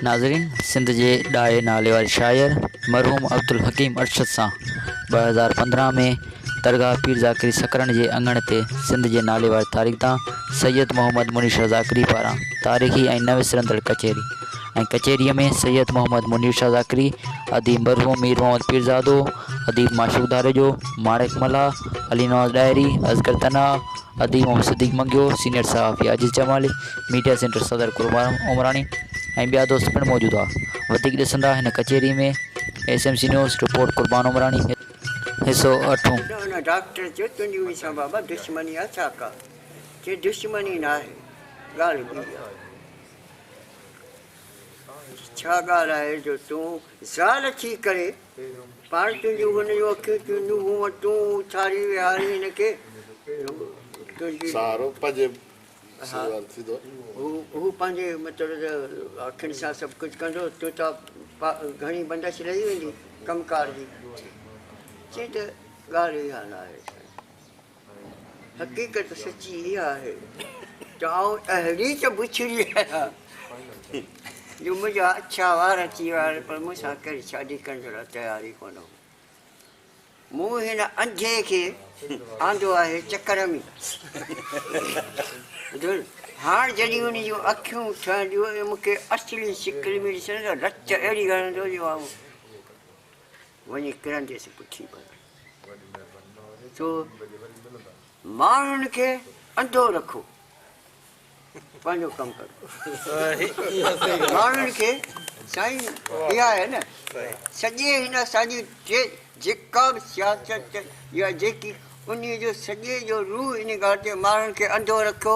ناظرين سنڌ جي ڏاهي نالي واري شاعر مرحوم عبدالحڪيم ارشد سان ٻه هزار پندرهن ۾ درگاهه پير ذاڪري سڪرن جي اڱڻ تي سنڌ جي نالي واري تاريخدان سيد محمد منيش ذاڪري پاران تاريخي ۽ نه وسرندڙ ڪچهري ۽ ڪچهريء ۾ سيد محمد منير شاهه ذاڪري، اديب مرحوم مير محمد پيرزادو، اديب معشوق ڌاريجو، ماڻڪ ملاح، علي نواز ڏاهري، اصغر تنها، اديب محمد صديق منگيو، سينيئر صحافي عاجز جمالي، ميڊيا سينٽر صدر قربان عمراڻي ۽ ٻيا دوست پڻ موجود هئا. وڌيڪ ڏسندا هن ڪچهري ۾، S M C news, report Qurban Umrani, حصو اٺون. ته هن ڊاڪٽر چيو تنهنجي مون سان بابا دشمني آهي ڇا ڪا چي دشمني ناهي ڳالهه ٻي آهي. ڇا ڳالهه آهي جو تون زال ٿي ڪري پاڻ تنهنجون هن جون اکيون چونڊيون مون وٽ تون اٿاري ويهاري هن کي تنهنجي سهارو پنهنجي سيوال ٿيندو هو هو پنهنجي مطلب اکين سان سڀ ڪجهه ڪندو تون ته گهڻي بندش رهي ويندي ڪم ڪار جي چي ته ڳالهه اها نه آهي حقيقت سچي اها آهي ته آء اهڙي ته بڇڙي آهيان جو منهنجا اڇا وار اچي ويا آهن پر مون سان ڪنهن شادي ڪرڻ لاء تيار ئي ڪونه هو. مون هن انڌي کي آندو آهي چڪر ۾ ٻڌو نه هاڻ جڏهن ان جون اکيون ٺهنديون ۽ مون کي اصلي شڪل ۾ ڏسندو رت اهڙي هڻندو جو آئون وڃي ڪرنديس پٺي ڀلا ڇو ماڻهن کي انڌو رکو پنهنجو ڪم ڪرو ماڻهن کي سائين اها آهي نه سڄي هن اسانجي جيڪا به سياست يا جيڪي ان جو سڄي جو روح ان ڳالهه تي ماڻهن کي انڌو رکيو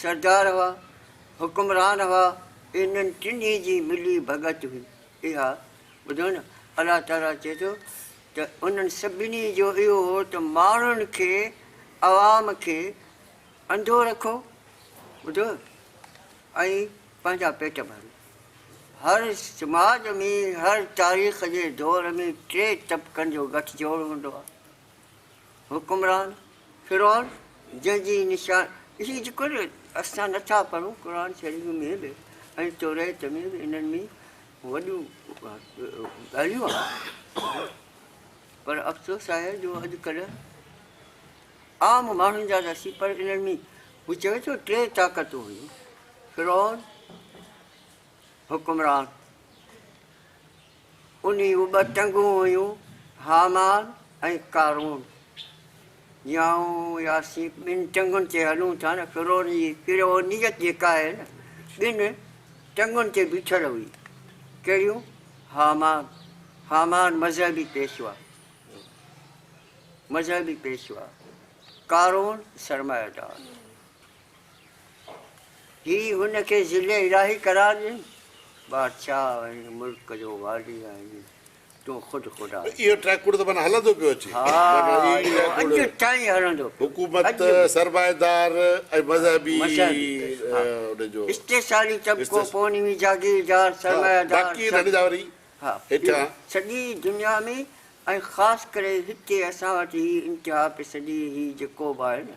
سردار هئا، حڪمران هئا، انهن ٽنهي جي ملي ڀڳت هئي اها ٻڌو نه الله تعالي چئي ٿو ته انهن سڀني جو اهو هو ته ماڻهن کي عوام کي انڌو رکو ٻڌو ۽ پنهنجا پيٽ ڀرو هر سماج ۾ هر تاريخ جي دور ۾ ٽي طبقن جو گٺ جوڙ هوندو آهي. حڪمران فرعون جنهن جي نشان هي جيڪو نه اسان نٿا پڙهون قرآن شريف ۾ به ۽ توريت ۾ به انهن ۾ وڏيون ڳالهيون آهن پر افسوس آهي جو اڄڪلهه عام ماڻهن جا ته سي پر انهن ۾ هو چوي ٿو ٽي طاقتون هيون فرعون حڪمران انهي جون ٻه ٽنگون هيون هامان ۽ قارون جي آئون يا اسين ٻن ٽنگن تي هلون ٿا نه فرعون جي فرعونيت جيڪا آهي نه ٻن ٽنگن تي بيٺل هئي ڪهڙيون هامان هامان مذهبي پيشوا مذهبي پيشوا قارون سرمائيدار. هي هن کي ذل الاهي قرار ڏين. بادشاهه ۽ ملڪ جو والي آهين. تون خود خدا آهين. اهو ٽريڪوڊ ته معنيٰ هلندو پيو اچي. ها اهو اڄ تائين هلندو پيو. حڪومت، سرمائيدار ۽ مذهبي ان جو. استحصالي طبقو، پونوي جاگيردار، سرمائيدار. باقي هن جا وري هيٺيان. سڄي دنيا ۾ ۽ خاص ڪري هتي اسان وٽ هي انتها پسندي هي جيڪو به آهي نه.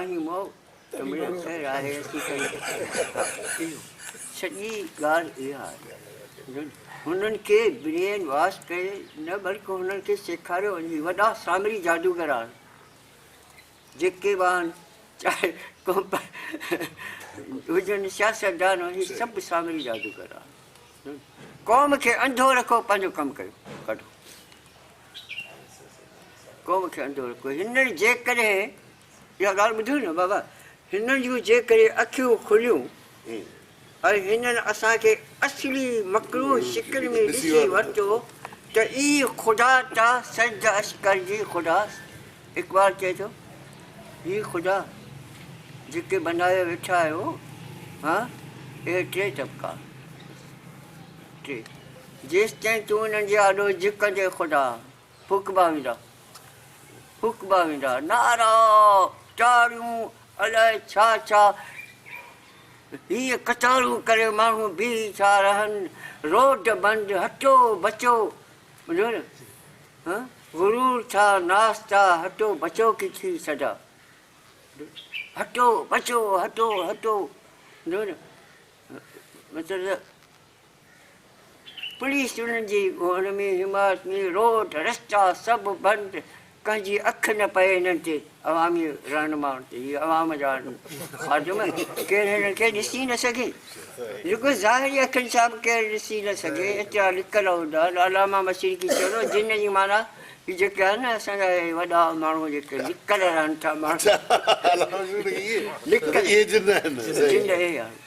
آهيون مئو ته مڙيا خير آهي اسين ڪن ٿا سڄي ڳالهه اها آهي جو هنن کي برين واش ڪري نه بلڪ هنن کي سيکاريو وڃي وڏا سامري جادوگر آهن جيڪي به آهن چاهي هجن سياستدان هي سڀ سامري جادوگر آهن قوم کي انڌو رکو پنهنجو ڪم ڪيو ڪڍو قوم کي انڌو رکو هنن جيڪڏهن اها ڳالهه ٻڌو نه بابا هنن جون جيڪڏهن اکيون کليون ۽ هنن اسان کي اصلي مڪروه شڪل ۾ ڏسي ورتو ته اي خدا تا سجد اش ڪر جي خدا اقبال چئي ٿو هي خدا جيڪي بنايو ويٺا آهيو ها اهي ٽي طبقا ٽي جيستائين تون انهن جي آڏو جهڪندين خدا ڦوڪبا ويندا ڦوڪبا ويندا نعرا تاڙيون الاء ڇا ڇا هي قطارون ڪري ماڻهو بيهي ٿا رهن روڊ بند هٽو بچو ٻڌو نه ها غرور ٿا ناستا هٽو بچو ڪي ٿي صدا هٽو بچو هٽو هٽو ٻڌو نه مطلب پوليس انهن جي ڳوڻ ۾ عمارت ۾ روڊ رستا سڀ بند ڪنهن جي اک نه پئي انهن تي عوامي رهنمائن تي هي عوام جا خادم ڪير هنن کي ڏسي نه سگهي رڳو ظاهري اکين سان به ڪير ڏسي نه سگهي ايترا لڪل هوندا آهن علامه مشرقي چيو جن جي معنيٰ جيڪي آهن نه اسان جا وڏا ماڻهو جيڪي لڪل رهن ٿا ماڻهو لڪل جن اهي آهن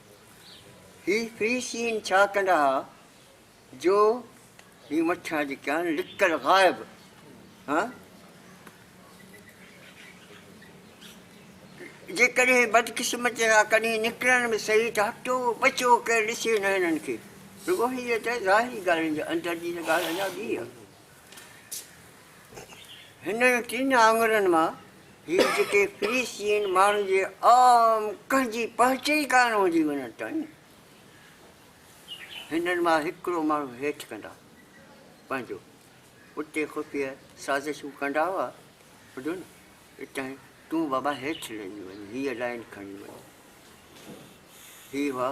هي فريسين ڇا ڪندا ها جو هي مٿيان جيڪي آهن لڪل غائب ها جيڪڏهن بدقسمتي سان ڪڏهن نڪرن به صحيح ته هٽو بچو ڪير ڏسي نه هنن کي رڳو هي ته ظاهري ڳالهين جي اندر جي ته ڳالهه اڃا ٻي آهي هنن ٽن آڱرين مان هي جيڪي فلسطين ماڻهن جي عام ڪنهن جي پهچ ئي ڪانه هوندي وڃن ٿا ني هنن مان هڪڙو ماڻهو هيٺ ڪندا پنهنجو اتي خفيه سازشون ڪندا هئا ٻڌو نه اتان تون بابا هيٺ لهي وڃ هيء لائن کڻي وڃ هي هئا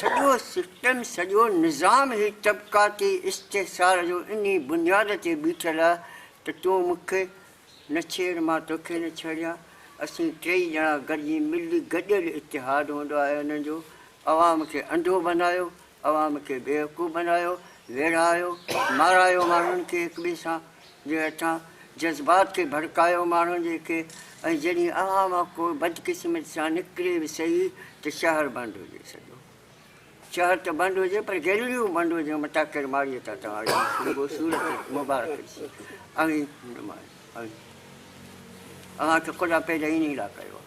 سڄو سسٽم، سڄو نظام هي طبقاتي استحصال جو انهي بنياد تي بيٺل آ ته تون مون کي نه ڇيڙ مان توکي نه ڇيڙيان. اسين ٽيئي ڄڻا گڏجي ملي گڏيل اتحاد هوندو آهي انهن جو عوام کي انڌو بنايو عوام کي بيوقوف بنايو، ويڙهايو، مارايو ماڻهن کي هڪ ٻئي سان جي هٿان، جذبات کي ڀڙڪايو ماڻهن جي کي ۽ جڏهن اها موقعو بدقسمتي سان نڪري به سهي ته شهر بند هجي سڄو شهر ته بند هجي پر گيلريون بند هجن متان ڪير ماڙيء تان توهان جي خوشبو صورت مبارڪ ڏسي اوهين نمايان اوهين اوهان کي خدا پيدا انهي لاء ڪيو آهي.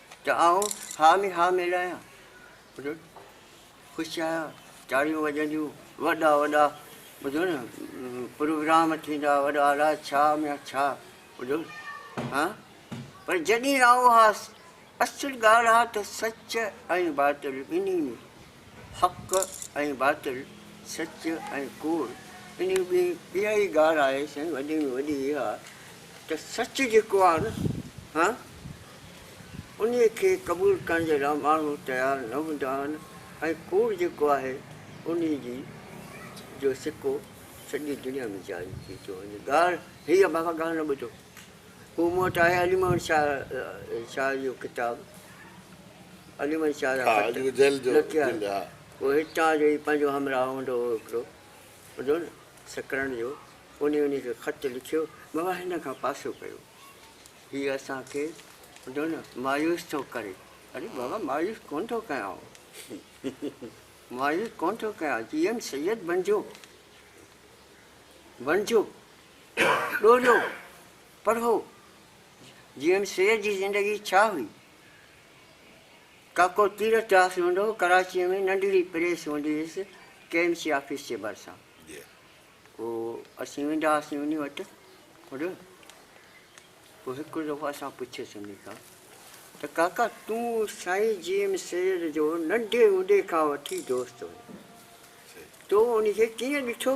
ته آئون ها ۾ ها ملائيان. ٻڌو نه، خوش آهيان، تاڙيون وڄنديون، وڏا وڏا ٻڌو نه پروگرام ٿيندا، وڏا الاء ڇا ميان ڇا، ٻڌو نه ها، پر جڏهن آئون هاس، اصل ڳالهه اها ته سچ ۽ باطل ٻنهي ۾ حق ۽ باطل، سچ ۽ ڪوڙ، انهي ۾ اها ئي ڳالهه آهي سائين وڏي ۾ وڏي اها ته سچ جيڪو آهي نه هان انهي کي قبول ڪرڻ جي لاء ماڻهو تيار نه هوندا آهن ۽ ڪوڙ جيڪو آهي انهي جي جو سڪو سڄي دنيا ۾ جاري ٿي ٿو وڃي ڳالهه هي آهي بابا ڳالهه نه ٻڌو. هو مون وٽ آهي علي محمد شاهه شاهه جو ڪتاب علي محمد شاهه جا خط لکيا هو هتان جو ئي پنهنجو همراهه هوندو هو هڪڙو ٻڌو نه سڪرنڊ جو انهي انهي کي خط لکيو بابا هن کان پاسو ڪيو هي اسان کي ٻڌو نه مايوس ٿو ڪري اري بابا مايوس ڪونه ٿو ڪيان مايوس ڪونه ٿو ڪيان جي ايم سيد بنجو بنجو ڏوريو، پڙهو، جيئن سير جي زندگي ڇا هئي؟ ڪاڪو تيرٿ داس هوندو هو ڪراچيء ۾ ننڍڙي پريس هوندي هيس ڪي ايم سي آفيس جي ڀرسان پوء اسين ويندا هئاسين انهي وٽ هوڏو پوء هڪ دفعو اسان پڇيس انهي کان ته ڪاڪا تون سائين جي ايم سيد جو ننڍي هوندي کان وٺي دوست هئين تو انهي کي ڪيئن ڏٺو؟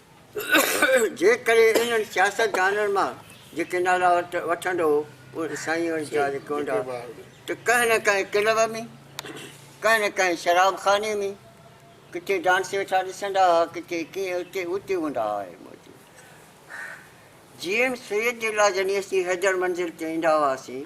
جيڪڏهن انهن سياستدانن مان جيڪي نالا وٺندو هو اهي سائين ورجاء جيڪي هوندا ته ڪنهن نه ڪنهن ڪلب ۾ ڪنهن نه ڪنهن شراب خاني ۾ ڪٿي ڊانس ويٺا ڏسندا ها ڪٿي ڪيئن اتي اتي هوندا ها اهي موجود جي ايم سيد جي لاء جڏهن اسين حيدر منزل تي ايندا هئاسين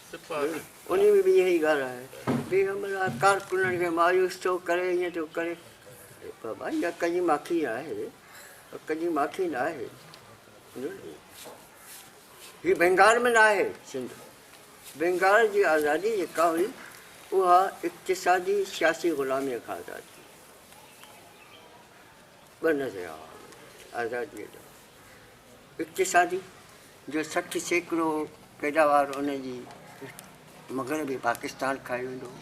انهي ۾ به اها ئي ڳالهه آهي. پيغمبر آهي ڪارڪنن کي مايوس ٿو ڪري ائين ٿو ڪري بابا اها ڪنهنجي ماکي آهي ڪنهنجي ماکي نه آهي هي بنگال ۾ نه آهي سنڌ بنگال جي آزادي جيڪا هئي اها اقتصادي سياسي غلامي کان آزاد ٿي ٻه نظريا آزادي اقتصادي، جو سٺ سيڪڙو پيداوار ان جي مغربي پاڪستان کائي ويندو هو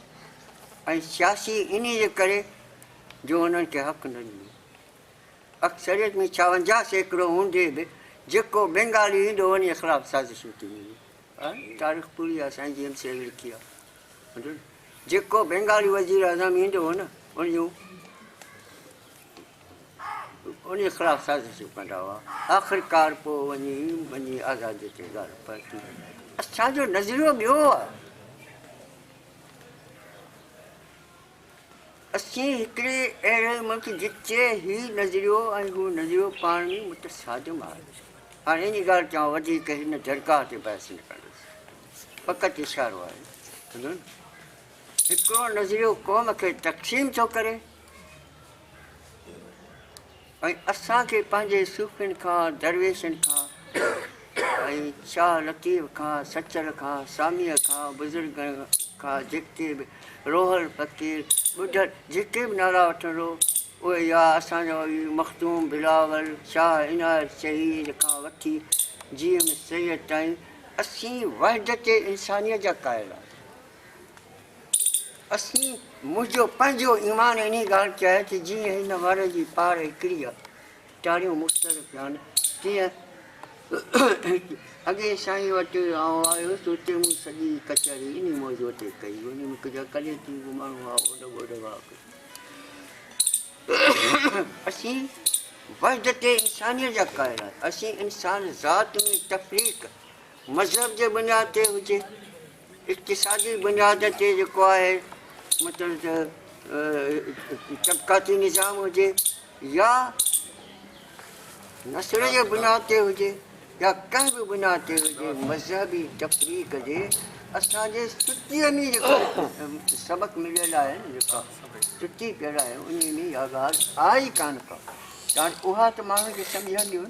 ۽ سياسي انهي جي ڪري جو انهن کي حق نه ڏنو. اڪثريت ۾ ڇاونجاهه سيڪڙو هوندي به جيڪو بينگالي ايندو انهي خلاف سازشون ٿي وينديون. آء تاريخ پوري آء سائين جي ايم سي اهڙي لکي آء. جيڪو بينگالي وزير اعظم ايندو هو نه ان جون انهيء خلاف سازشون ڪندا هئا. آخرڪار پوء وڃي وڃي آزاديء تي ڳالهه پهتي. اسان جو نظريو ٻيو هو. اسين هڪڙي اهڙي ملڪ جتي هي نظريو ۽ هو نظريو پاڻ ۾ متصادم آهي. هاڻي ان ڳالهه تي آئون وڌيڪ هن درگاهه تي بحث نه ڪندس. فقط اشارو آهي. هڪڙو نظريو قوم کي تقسيم ٿو ڪري. ۽ اسان کي پنهنجي صوفين کان، درويشن کان ۽ شاهه لطيف کان، سچل کان، ساميء کان، بزرگن کان جيڪي به روحل فقير، ٻڍڙ جيڪي به نالا وٺندو اهي يا اسان جو اي مخدوم بلاول، شاهه عنايت شهيد کان وٺي جي ايم سيد تائين اسين وحدت انسانيت جا قائل آهيون. اسين، منهنجو پنهنجو ايمان انهي ڳالهه تي آهي ته جيئن هن ور جي پار هڪڙيء ٽاريون مختلف ٿيان، تيئن اڳي سائين وٽ آئون آيس ته اتي مون سڄي ڪچهري انهي موضوع تي ڪئي، انهي ۾ ڪجهه ڪليتي به ماڻهو هئا، اوڏ ٻوڏ هئا ڪجهه. اسين، وحدت انسانيء جا قائل آهيون، اسين انسان ذات ۾ تفريق مذهب جي بنياد تي هجي، اقتصادي بنياد تي جيڪو آهي مطلب ته طبقاتي نظام هجي يا نسل جي بنياد تي هجي يا ڪنهن به بنياد تي هجي مذهبي تفريق جي اسان جي سٽيء ۾ جيڪو سبق مليل آهي جيڪا سٽي پيل آهي ان ۾ اها ڳالهه آهي ڪانه ڪا ڪان اها ته ماڻهن کي سمجهنديون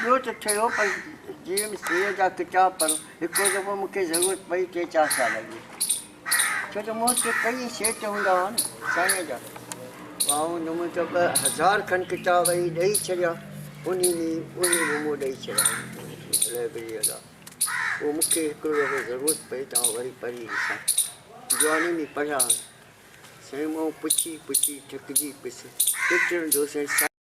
ٻيو ته ٺهيو پر جي ايم سيء جا ڪتاب پر هڪڙو دفعو مون کي ضرورت پئي ٽي چار سال اڳ ڇو ته مون وٽ ڪيئي سيٽ هوندا هئا نه سائين جا آئون نمون ته ٻه هزار کن ڪتاب اهي ڏئي ڇڏيا انهي ۾ انهي نمو ڏئي ڇڏيا لائبرريء لاء پوء مون کي هڪڙو دفعو ضرورت پئي ته آئون وري پڙهي ڏسان جواني ۾ پڙهيا سائين مون پڇي پڇي ٿڪجي پيس ڪيترن دوستن